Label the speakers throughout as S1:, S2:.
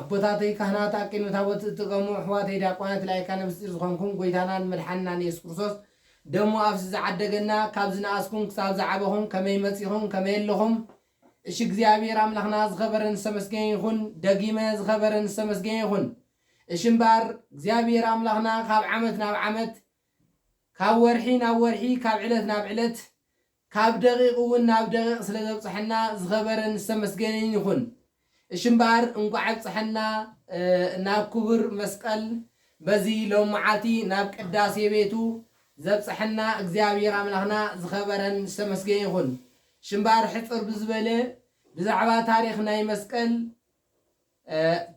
S1: ኣቦታተይ ካህናት ኣቂኑ ታቦት ዝጥቐሙ ኣሕዋተይ ዲያቆናት ላይካነ ምስጢር ዝኾንኩም ጎይታናን መድሓንናን የሱስ ክርስቶስ ደሙ ኣፍስስ ዝዓደገና ካብ ዝነኣስኩም ክሳብ ዝዓበኹም ከመይ መጺኹም ከመይ ኣለኹም እሺ እግዚኣብሔር ኣምላኽና ዝኸበረን ዝተመስገነ ይኹን ደጊመ ዝኸበረን ዝተመስገነ ይኹን እሺ እምበኣር እግዚኣብሔር ኣምላኽና ካብ ዓመት ናብ ዓመት ካብ ወርሒ ናብ ወርሒ ካብ ዕለት ናብ ዕለት ካብ ደቂቅ እውን ናብ ደቂቅ ስለ ዘብፀሐና ዝኸበረን ዝተመስገነን ይኹን እሺ እምበኣር እንኳዕ ኣብፀሐና ናብ ክቡር መስቀል በዚ ሎምዓቲ ናብ ቅዳሴ ቤቱ ዘብፀሐና እግዚኣብሔር ኣምላክና ዝኸበረን ዝተመስገነ ይኹን እሺ እምበኣር ሕፅር ብዝበለ ብዛዕባ ታሪክ ናይ መስቀል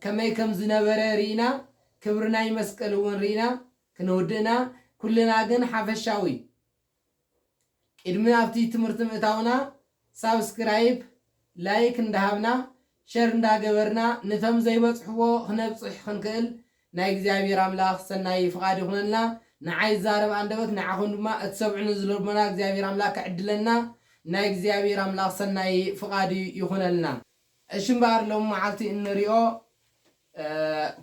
S1: ከመይ ከም ዝነበረ ሪኢና ክብሪ ናይ መስቀል እውን ሪኢና ክንውድእና ኩልና ግን ሓፈሻዊ ቅድሚ ኣብቲ ትምህርቲ ምእታውና ሳብስክራይብ ላይክ እንዳሃብና ሸር እንዳገበርና ንቶም ዘይበጽሕዎ ክነብጽሕ ክንክእል ናይ እግዚኣብሔር ኣምላክ ሰናይ ፍቃድ ይኩነልና ንዓይ ዝዛረብ ኣንደበት ንዓኩም ድማ እትሰምዑኒ ዝልቦና እግዚኣብሔር ኣምላክ ክዕድለና ናይ እግዚኣብሔር ኣምላክ ሰናይ ፍቃዱ ይኩነልና። እሺ እምበኣር ሎሚ መዓልቲ እንሪኦ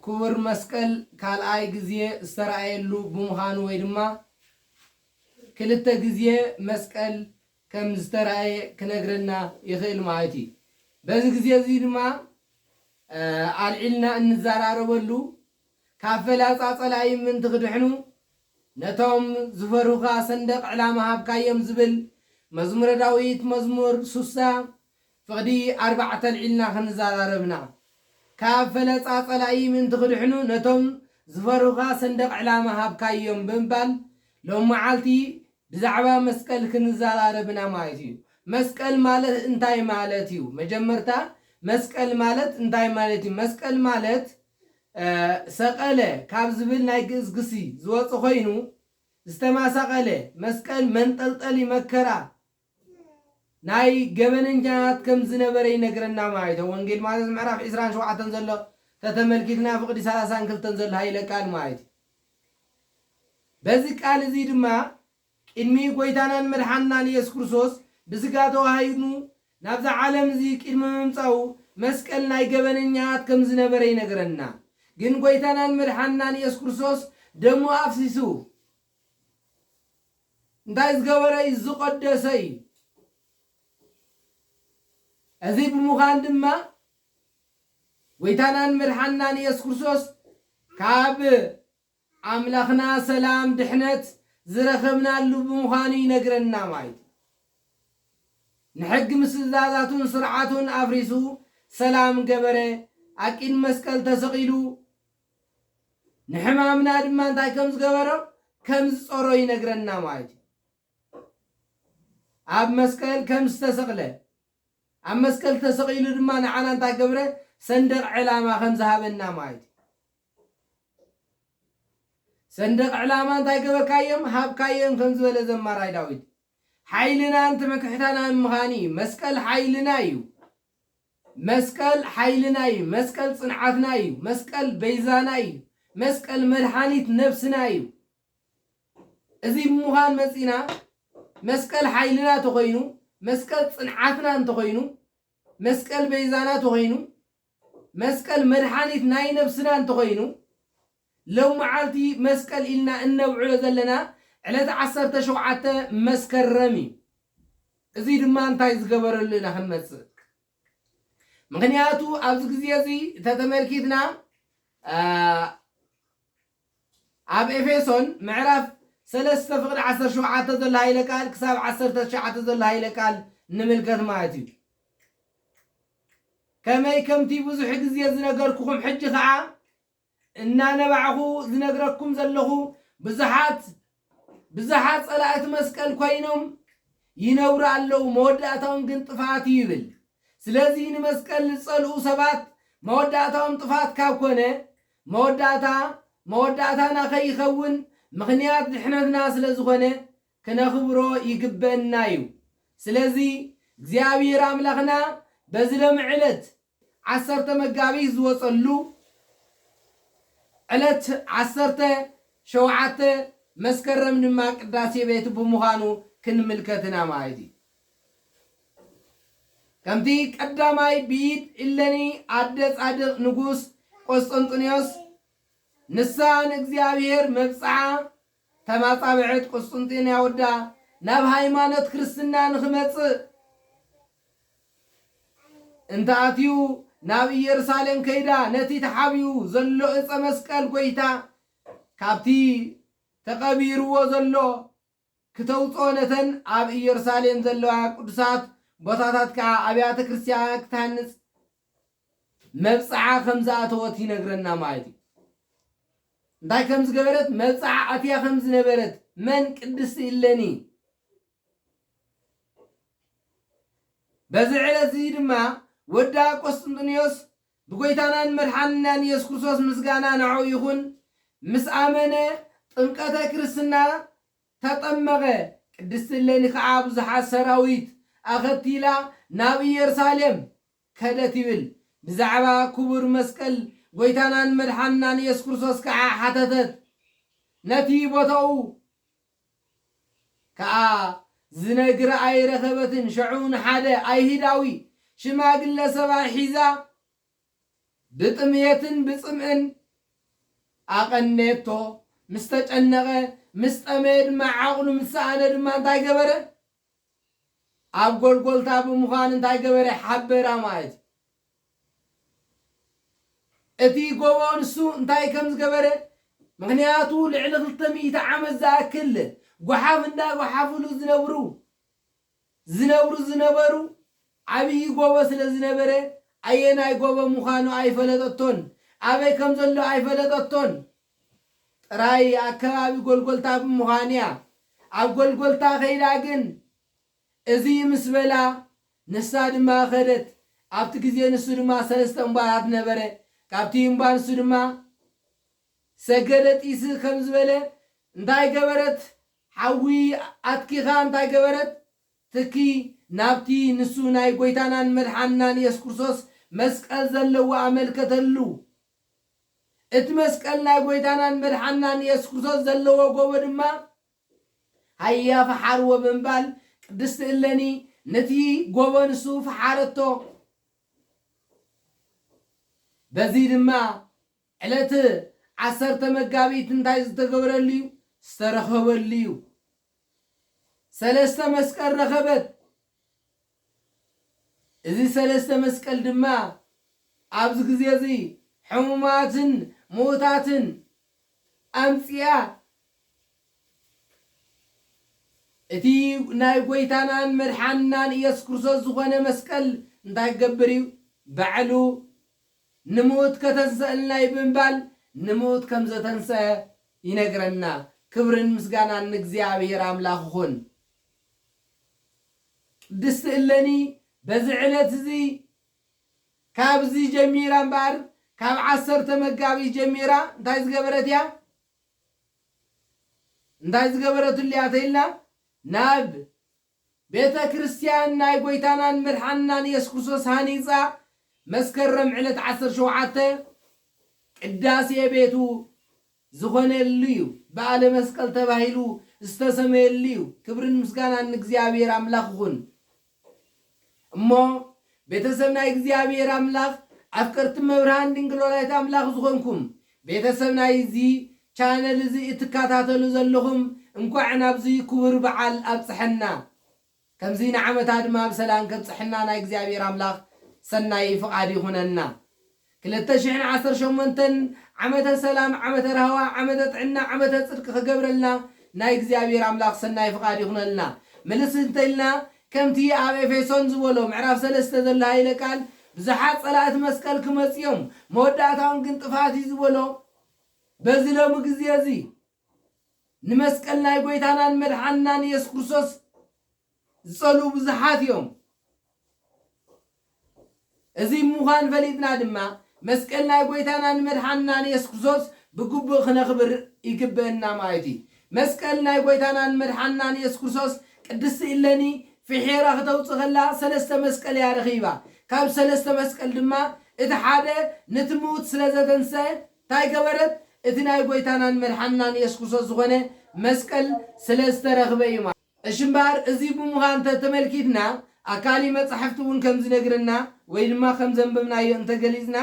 S1: ክቡር መስቀል ካልኣይ ግዜ ዝተራእየሉ ብምዃኑ ወይ ድማ ክልተ ግዜ መስቀል ከም ዝተራእየ ክነግረና ይኽእል ማለት እዩ። በዚ ግዜ እዚ ድማ ኣልዒልና እንዘራረበሉ ካብ ፈላፃ ፀላኢ ምእንቲ ክድሕኑ ነቶም ዝፈርሁኻ ሰንደቕ ዕላማ ሃብካዮም ዝብል መዝሙረ ዳዊት መዝሙር ሱሳ ፍቕዲ ኣርባዕተ ኣልዒልና ከምዝዛራረብና፣ ካብ ፈለፃ ፀላኢ ምእንቲ ክድሕኑ ነቶም ዝፈርሁኻ ሰንደቕ ዕላማ ሃብካዮም ብምባል ሎሚ መዓልቲ ብዛዕባ መስቀል ክንዛራረብ ኢና ማለት እዩ። መስቀል ማለት እንታይ ማለት እዩ? መጀመርታ መስቀል ማለት እንታይ ማለት እዩ? መስቀል ማለት ሰቀለ ካብ ዝብል ናይ ግእዝ ግሲ ዝወፀ ኮይኑ ዝተማሳቐለ፣ መስቀል መንጠልጠሊ መከራ ናይ ገበነኛታት ከም ዝነበረ ይነግረና ማይ ተ ወንጌል ማተስ ምዕራፍ ዕስራን ሸውዓተን ዘሎ ተተመልኪትና ፍቅዲ ሰላሳን ክልተን ዘሎ ሃይለ ቃል ማይ ት በዚ ቃል እዚ ድማ ቅድሚ ጎይታናን መድሓንናን ኢየሱስ ክርስቶስ ብስጋ ተዋሃሂድኑ ናብዛ ዓለም እዚ ቅድሚ ምምጻኡ መስቀል ናይ ገበነኛታት ከም ዝነበረ ይነግረና ግን ጎይታናን መድሓንናን ኢየሱስ ክርስቶስ ደሙ ኣፍሲሱ እንታይ ዝገበረ እዩ ዝቐደሰ እዩ። እዚ ብምዃን ድማ ጎይታናን መድሓንናን ኢየሱስ ክርስቶስ ካብ ኣምላኽና ሰላም ድሕነት ዝረኸብናሉ ብምዃኑ ይነግረና ማለት እዩ። ንሕጊ ምስ ትእዛዛቱን ስርዓቱን ኣፍሪሱ ሰላም ገበረ፣ ኣብ ቂድ መስቀል ተሰቒሉ ንሕማምና ድማ እንታይ ከም ዝገበሮ ከም ዝጾሮ ይነግረና ማለት እዩ ኣብ መስቀል ከም ዝተሰቕለ ኣብ መስቀል ተሰቒሉ ድማ ንዓና እንታይ ገብረ ሰንደቕ ዕላማ ከም ዝሃበና ማለት እዩ ሰንደቕ ዕላማ እንታይ ገበርካዮም ሃብካዮም ከም ዝበለ ዘማራይ ዳዊት ሓይልናን ትምክሕታናን ምዃን እዩ መስቀል ሓይልና እዩ መስቀል ሓይልና እዩ መስቀል ጽንዓትና እዩ መስቀል በይዛና እዩ መስቀል መድሓኒት ነብስና እዩ እዚ ብምዃን መጺና መስቀል ሓይልና ተኾይኑ መስቀል ጽንዓትና እንተኾይኑ መስቀል በይዛና ተኾይኑ መስቀል መድሓኒት ናይ ነብስና እንተኾይኑ ሎም መዓልቲ መስቀል ኢልና እነብዕሎ ዘለና ዕለተ ዓሰርተ ሸውዓተ መስከረም እዩ። እዙይ ድማ እንታይ ዝገበረሉ ኢና ክንመፅእ። ምኽንያቱ ኣብዚ ግዜ እዚ ተተመልኪትና ኣብ ኤፌሶን ምዕራፍ ሰለስተ ፍቕዲ ዓሰርተ ሸውዓተ ዘሎ ሃይለ ቃል ክሳብ ዓሰርተ ትሽዓተ ዘሎ ሃይለ ቃል ንምልከት ማለት እዩ ከመይ ከምቲ ብዙሕ ግዜ ዝነገርኩኹም ሕጂ ከዓ እናነባዕኹ ዝነግረኩም ዘለኹ ብዙሓት ብዝሓት ጸላእቲ መስቀል ኮይኖም ይነብሩ ኣለዉ፣ መወዳእታኦም ግን ጥፍኣት እዩ ይብል። ስለዚ ንመስቀል ዝጸልኡ ሰባት መወዳእታኦም ጥፍኣት ካብ ኮነ መወዳእታ መወዳእታና ከይኸውን ምኽንያት ድሕነትና ስለ ዝኾነ ክነኽብሮ ይግበእና እዩ። ስለዚ እግዚኣብሔር ኣምላኽና በዚ ሎሚ ዕለት ዓሰርተ መጋቢት ዝወጸሉ ዕለት ዓሰርተ ሸውዓተ መስከረም ድማ ቅዳሴ ቤቱ ብምዃኑ ክንምልከት ኢና ማለት እዩ። ከምቲ ቀዳማይ ብኢድ እለኒ ኣደ ጻድቕ ንጉስ ቆስጠንጢኖስ ንሳ ንእግዚኣብሔር መብጽዓ ከም ኣጻብዕት ቍስጥንጥንያ ወዳ ናብ ሃይማኖት ክርስትና ንኽመጽእ እንተ ኣትዩ፣ ናብ ኢየሩሳሌም ከይዳ ነቲ ተሓቢኡ ዘሎ እጸ መስቀል ጐይታ ካብቲ ተቐቢርዎ ዘሎ ክተውጽኦ ነተን ኣብ ኢየሩሳሌም ዘለዋ ቅዱሳት ቦታታት ከኣ ኣብያተ ክርስቲያናት ክትሃንጽ መብጽዓ ከም ዝኣተወት ይነግረና ማለት እዩ። እንታይ ከም ዝገበረት መብጽዓ ኣትያ ከም ዝነበረት መን ቅድስቲ እለኒ በዚ ዕለት እዚ ድማ ወዳ ቆስጥንጥንዮስ ብጎይታናን መድሓንናን ኢየሱስ ክርስቶስ ምስጋና ንዕኡ ይኹን ምስ ኣመነ ጥምቀተ ክርስትና ተጠመቐ፣ ቅድስቲ እሌኒ ኸዓ ብዙሓት ሰራዊት ኣኸቲላ ናብ ኢየሩሳሌም ከደት ይብል። ብዛዕባ ክቡር መስቀል ጐይታናን መድሓንናን ኢየሱስ ክርስቶስ ከዓ ሓተተት። ነቲ ቦታኡ ከዓ ዝነግራ ኣይረኸበትን ሸዑ ንሓደ ኣይሁዳዊ ሽማግለ ሰብኣይ ሒዛ ብጥምየትን ብጽምእን ኣቐነየቶ፣ ምስ ተጨነቐ፣ ምስ ጠመየ ድማ ዓቕሉ ምስ ሰኣነ ድማ እንታይ ገበረ? ኣብ ጎልጎልታ ብምዃን እንታይ ገበረ? ሓበራ ማለት እዩ። እቲ ጎቦ ንሱ እንታይ ከም ዝገበረ ምክንያቱ ልዕሊ ክልተ ሚእቲ ዓመት ዝኣክል ጓሓፍ እንዳጓሓፍሉ ዝነብሩ ዝነብሩ ዝነበሩ ዓብዪ ጎቦ ስለ ዝነበረ ኣየናይ ጎቦ ምዃኑ ኣይፈለጠቶን፣ ኣበይ ከም ዘሎ ኣይፈለጠቶን። ጥራይ ኣብ ከባቢ ጎልጎልታ ብምዃኑ'ያ። ኣብ ጎልጎልታ ከይዳ ግን እዙይ ምስ በላ ንሳ ድማ ከደት። ኣብቲ ግዜ ንሱ ድማ ሰለስተ እምባታት ነበረ። ካብቲ እምባ ንሱ ድማ ሰገደ ጢስ ከም ዝበለ እንታይ ገበረት ሓዊ ኣትኪኻ እንታይ ገበረት? ትኪ ናብቲ ንሱ ናይ ጐይታናን መድሓንናን የሱስ ክርስቶስ መስቀል ዘለዎ ኣመልከተሉ። እቲ መስቀል ናይ ጐይታናን መድሓንናን የሱስ ክርስቶስ ዘለዎ ጎቦ ድማ ሃያ ፍሓርዎ ብምባል ቅድስቲ እለኒ ነቲ ጎቦ ንሱ ፈሓረቶ። በዚ ድማ ዕለት ዓሰርተ መጋቢት እንታይ ዝተገብረሉ'ዩ? ዝተረኸበሉ'ዩ። ሰለስተ መስቀል ረኸበት። እዚ ሰለስተ መስቀል ድማ ኣብዚ ግዜ እዚ ሕሙማትን ምዉታትን ኣምጺኣ እቲ ናይ ጐይታናን መድሓንናን ኢየሱስ ክርስቶስ ዝኾነ መስቀል እንታይ ክገብር እዩ? ባዕሉ ንምውት ከተንሰእልና እዩ ብምባል ንምውት ከም ዘተንሰኣ ይነግረና ክብርን ምስጋናን ንእግዚኣብሔር ኣምላክ ይኩን። ቅድስቲ እለኒ በዚ ዕለት እዚ ካብዚ ጀሚራ እምበኣር ካብ ዓሰርተ መጋቢት ጀሚራ እንታይ ዝገበረት እያ እንታይ ዝገበረትሉ እያ ተኢልና ናብ ቤተ ክርስቲያን ናይ ጐይታናን መድሓንናን ኢየሱስ ክርስቶስ ሃኒጻ መስከረም ዕለት ዓሰርተ ሸውዓተ ቅዳሴ ቤቱ ዝኾነሉ እዩ። በዓለ መስቀል ተባሂሉ ዝተሰመየሉ እዩ። ክብርን ምስጋናን ንእግዚኣብሔር ኣምላኽ ይኹን። እሞ ቤተሰብ ናይ እግዚኣብሔር ኣምላኽ ኣፍቀርቲ እመብርሃን ድንግል ወላዲተ ኣምላኽ ዝኾንኩም ቤተሰብ ናይዚ ቻነል እዚ እትካታተሉ ዘለኹም እንኳዕ ናብዚ ኩቡር በዓል ኣብፀሐና ከምዚ ንዓመታ ድማ ብሰላም ከብፀሐና ናይ እግዚኣብሔር ኣምላኽ ሰናይ ፍቃድ ይኹነና ክልተ ሽሕን ዓሰርተ ሸሞንተን ዓመተ ሰላም ዓመተ ራህዋ ዓመተ ጥዕና ዓመተ ጽድቂ ክገብረልና ናይ እግዚኣብሔር ኣምላኽ ሰናይ ፍቃድ ይኹነልና ምልስ እንተኢልና ከምቲ ኣብ ኤፌሶን ዝበሎ ምዕራፍ ሰለስተ ዘሎ ሃይለ ቃል ብዙሓት ጸላእቲ መስቀል ክመጹ እዮም መወዳእታኦም ግን ጥፍኣት እዩ ዝበሎ በዚ ሎሚ ግዜ እዚ ንመስቀል ናይ ጎይታናን መድሓንናን ኢየሱስ ክርስቶስ ዝጸልኡ ብዙሓት እዮም። እዚ ምዃን ፈሊጥና ድማ መስቀል ናይ ጐይታናን መድሓንናን የሱስ ክርስቶስ ብግቡእ ክነኽብር ይግበእና ማለት እዩ። መስቀል ናይ ጐይታናን መድሓንናን የሱስ ክርስቶስ ቅድስቲ እለኒ ፍሒራ ክተውጽእ ከላ ሰለስተ መስቀል እያ ረኺባ። ካብ ሰለስተ መስቀል ድማ እቲ ሓደ ነቲ ምዉት ስለ ዘተንስኣ እንታይ ገበረት? እቲ ናይ ጐይታናን መድሓንናን የሱስ ክርስቶስ ዝኾነ መስቀል ስለ ዝተረኽበ እዩ ማለት። እሺ እምበኣር እዚ ብምዃ እንተ ተመልኪትና ኣካሊ መጻሕፍቲ እውን ከም ዝነግረና ወይ ድማ ከም ዘንበብናዮ እንተ ገሊጽና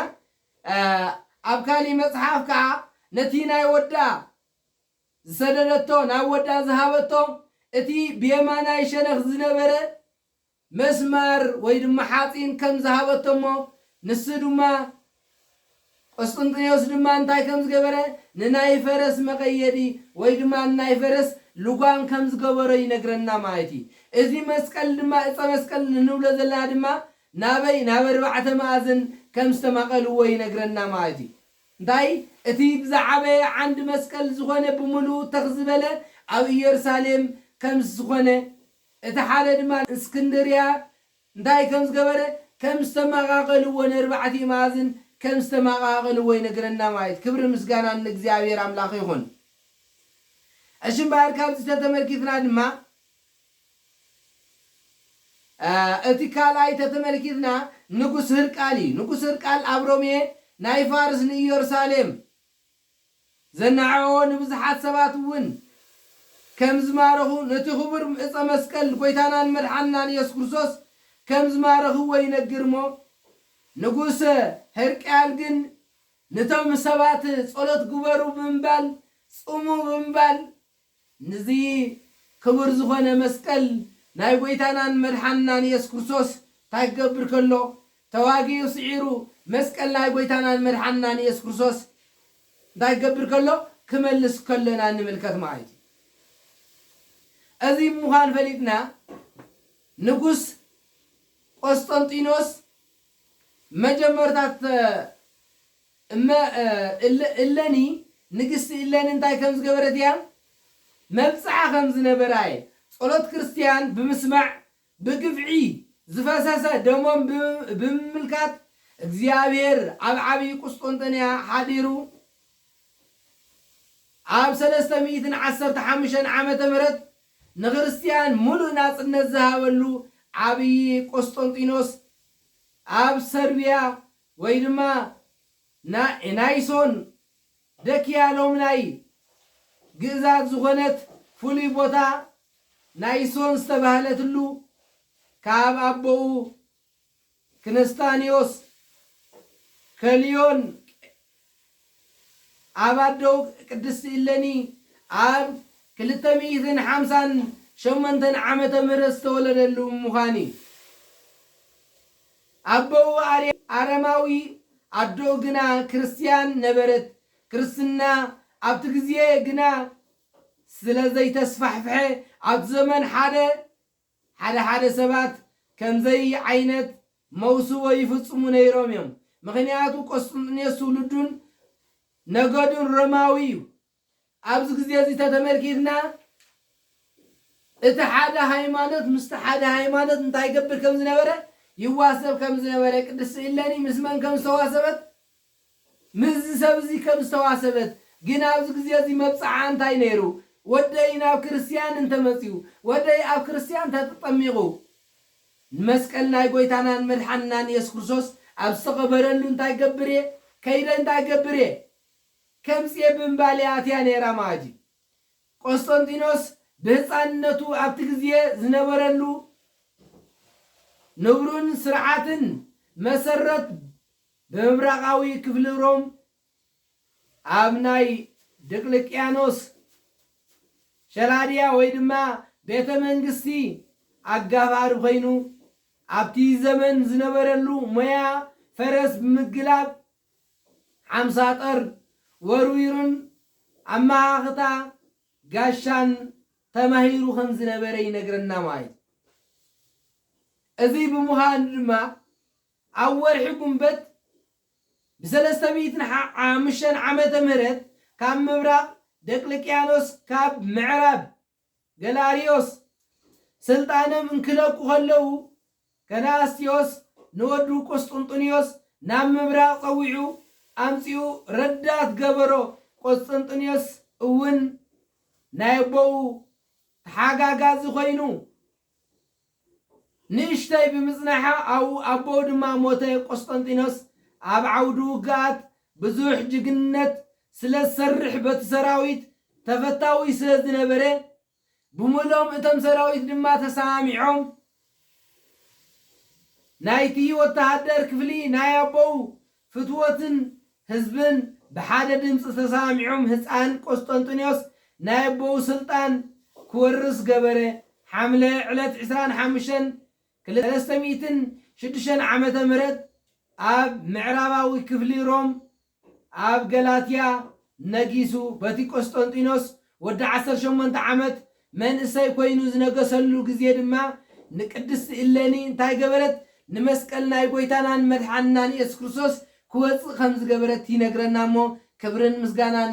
S1: ኣብ ካሊ መጽሓፍ ከኣ ነቲ ናይ ወዳ ዝሰደደቶ ናብ ወዳ ዝሃበቶ እቲ ብየማናይ ሸነኽ ዝነበረ መስማር ወይ ድማ ሓጺን ከም ዝሃበቶ እሞ ንሱ ድማ ቆስጥንጥንዮስ ድማ እንታይ ከም ዝገበረ ንናይ ፈረስ መቐየዲ ወይ ድማ ንናይ ፈረስ ልጓም ከም ዝገበሮ ይነግረና ማለት እዩ። እዚ መስቀል ድማ እጸ መስቀል እንብሎ ዘለና ድማ ናበይ ናብ ኣርባዕተ መኣዝን ከም ዝተማቐልዎ ይነግረና ማለት እዩ። እንታይ እቲ ብዝዓበየ ዓንዲ መስቀል ዝኾነ ብምሉኡ ተኽ ዝበለ ኣብ ኢየሩሳሌም ከም ዝኾነ እቲ ሓደ ድማ እስክንድርያ እንታይ ከም ዝገበረ ከም ዝተማቓቐልዎ ንእርባዕቲኡ መኣዝን ከም ዝተማቓቐልዎ ይነግረና ማይት ክብርን ምስጋናን ንእግዚኣብሔር ኣምላኽ ይኹን እሺ እምበኣር ካብዚ ተተመልኪትና ድማ እቲ ካልኣይ ተተመልኪትና ንጉስ ህርቃል እዩ ንጉስ ህርቃል ኣብ ሮሜ ናይ ፋርስ ንኢዮርሳሌም ዘናዕቕዎ ንብዙሓት ሰባት እውን ከም ዝማረኹ ነቲ ክቡር ዕፀ መስቀል ጎይታናን መድሓንናን ኢየሱስ ክርስቶስ ከም ዝማረኽዎ ይነግር እሞ ንጉሰ ህርቅያል ግን ንቶም ሰባት ፀሎት ግበሩ ብምባል ፁሙ ብምባል ንዚ ክቡር ዝኾነ መስቀል ናይ ጎይታናን መድሓንናን የሱስ ክርስቶስ ታይ ክገብር ከሎ ተዋጊኡ ስዒሩ መስቀል ናይ ጎይታናን መድሓንናን የሱስ ክርስቶስ እንታይ ክገብር ከሎ ክመልስ ከሎና ንምልከት ማይት እዩ እዚ ምዃን ፈሊጥና ንጉስ ቆስጠንጢኖስ መጀመርታ እመ እለኒ ንግስቲ እሌኒ እንታይ ከም ዝገበረት እያ? መብጽዓ ከም ዝነበራ እየ። ጸሎት ክርስትያን ብምስማዕ፣ ብግፍዒ ዝፈሰሰ ደሞም ብምምልካት፣ እግዚኣብሔር ኣብ ዓብዪ ቍስጥንጥንያ ሓዲሩ ኣብ ሰለስተ ሚእትን ዓሰርተ ሓሙሽተን ዓመተ ምህረት ንክርስትያን ምሉእ ናጽነት ዝሃበሉ ዓብዪ ቈስጠንጢኖስ ኣብ ሰርብያ ወይ ድማ ናይ ናይሶን ደኪያ ሎም ናይ ግእዛት ዝኾነት ፍሉይ ቦታ ናይሶን ዝተባህለትሉ ካብ ኣቦኡ ክነስታንዮስ ከልዮን ኣብ ኣደኡ ቅድስቲ እሌኒ ኣብ ክልተ ሚእትን ሓምሳን ሸሞንተን ዓመተ ምህረት ዝተወለደሉ ምዃን እዩ። ኣቦኡ ኣረማዊ ኣደኡ ግና ክርስትያን ነበረት። ክርስትና ኣብቲ ግዜ ግና ስለ ዘይተስፋሕፍሐ ኣብቲ ዘመን ሓደ ሓደ ሓደ ሰባት ከምዘይ ዓይነት መውስቦ ይፍጽሙ ነይሮም እዮም። ምኽንያቱ ቆስጥንጥንዮስ ትውልዱን ነገዱን ሮማዊ እዩ። ኣብዚ ግዜ እዚ ተተመልኪትና እቲ ሓደ ሃይማኖት ምስቲ ሓደ ሃይማኖት እንታይ ይገብር ከም ዝነበረ ይዋሰብ ከም ዝነበረ ቅድስቲ እሌኒ ምስ መን ከም ዝተዋሰበት ምስዚ ሰብ እዚ ከም ዝተዋሰበት ግን ኣብዚ ግዜ እዚ መብጽዓኣ እንታይ ነይሩ ወደይ ናብ ክርስትያን እንተመጽዩ ወደይ ኣብ ክርስትያን ተተጠሚቑ ንመስቀል ናይ ጎይታናን መድሓንናን የሱስ ክርስቶስ ኣብ ዝተቐበረሉ እንታይ ክገብር እየ ከይደ እንታይ ክገብር እየ ከምጽኤ ብምባል'ያ ኣትያ ነይራ መኣዲ። ቈስጠንጢኖስ ብህጻንነቱ ኣብቲ ግዜ ዝነበረሉ ንቡርን ስርዓትን መሰረት ብምብራቓዊ ክፍሊ ሮም ኣብ ናይ ድቅልቅያኖስ ሸላድያ ወይ ድማ ቤተ መንግስቲ ኣጋፋሪ ኰይኑ ኣብቲ ዘመን ዝነበረሉ ሞያ ፈረስ ብምግላብ ሓምሳ ጥር ወርዊሩን ኣመኻኽታ ጋሻን ተማሂሩ ከም ዝነበረ ይነግረና ማይ። እዚ ብምዃኑ ድማ ኣብ ወርሒ ጉንበት ብሰለስተ ሚእትን ሓሙሽተን ዓመተ ምህረት ካብ ምብራቕ ደቅልቅያኖስ ካብ ምዕራብ ገላርዮስ ስልጣኖም እንኪለቁ ከለዉ፣ ከላስትዮስ ንወዱ ቍስጥንጥንዮስ ናብ ምብራቕ ጸዊዑ ኣምጺኡ ረዳት ገበሮ፣ ቍስጥንጥንዮስ እውን ናይ ኣቦኡ ተሓጋጋዚ ዀይኑ ንእሽተይ ብምጽናሓ ኣቦኡ ድማ ሞተ። ቆስጠንጢኖስ ኣብ ዓውዲ ውግኣት ብዙሕ ጅግንነት ስለ ዝሰርሕ በቲ ሰራዊት ተፈታዊ ስለ ዝነበረ ብምልኦም እቶም ሰራዊት ድማ ተሰማሚዖም ናይቲ ወተሃደር ክፍሊ ናይ ኣቦኡ ፍትወትን ህዝብን ብሓደ ድምጺ ተሰማሚዖም ህጻን ቆስጠንጢኖስ ናይ ኣቦኡ ስልጣን ክወርስ ገበረ፣ ሓምለ ዕለት ዕስራን ሓሙሽተን ክልተ ሚእትን ሽዱሽተን ዓመተ ምህረት ኣብ ምዕራባዊ ክፍሊ ሮም ኣብ ገላትያ ነጊሱ፣ በቲ ቆስጠንጢኖስ ወዲ ዓሰርተ ሸሞንተ ዓመት መንእሰይ ኮይኑ ዝነገሰሉ ግዜ ድማ ንቅድስቲ እሌኒ እንታይ ገበረት? ንመስቀል ናይ ጎይታናን መድሓንናን ኢየሱስ ክርስቶስ ክወጽእ ከም ዝገበረት ይነግረና እሞ ክብርን ምስጋናን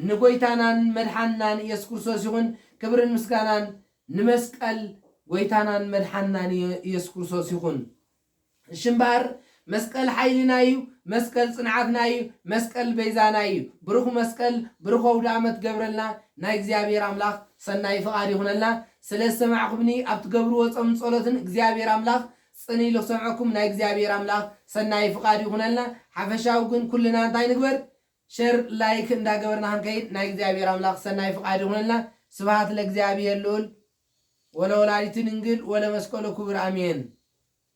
S1: ንጎይታናን መድሓንናን ኢየሱስ ክርስቶስ ይኹን ክብርን ምስጋናን ንመስቀል ጎይታናን መድሓንናን ኢየሱስ ክርስቶስ ይኹን። እሺ እምበኣር መስቀል ሓይልና እዩ መስቀል ጽንዓትና እዩ መስቀል በይዛና እዩ ብሩኽ መስቀል ብሩኽ ኣውድኣመት ገብረልና ናይ እግዚኣብሔር ኣምላኽ ሰናይ ፍቓድ ይኹነልና ስለ ዝሰማዕኹምኒ ኣብ ትገብርዎ ጾምን ጸሎትን እግዚኣብሔር ኣምላኽ ጽን ኢሉ ክሰምዐኩም ናይ እግዚኣብሔር ኣምላኽ ሰናይ ፍቓድ ይኹነልና ሓፈሻዊ ግን ኩልና እንታይ ንግበር ሸር ላይክ እንዳገበርና ክንከይድ ናይ እግዚኣብሔር ኣምላኽ ሰናይ ፍቓድ ይኹነልና ስብሃት ለእግዚኣብሔር ልኡል ወለወላዲቱ ድንግል ወለመስቀሉ ክቡር ኣሜን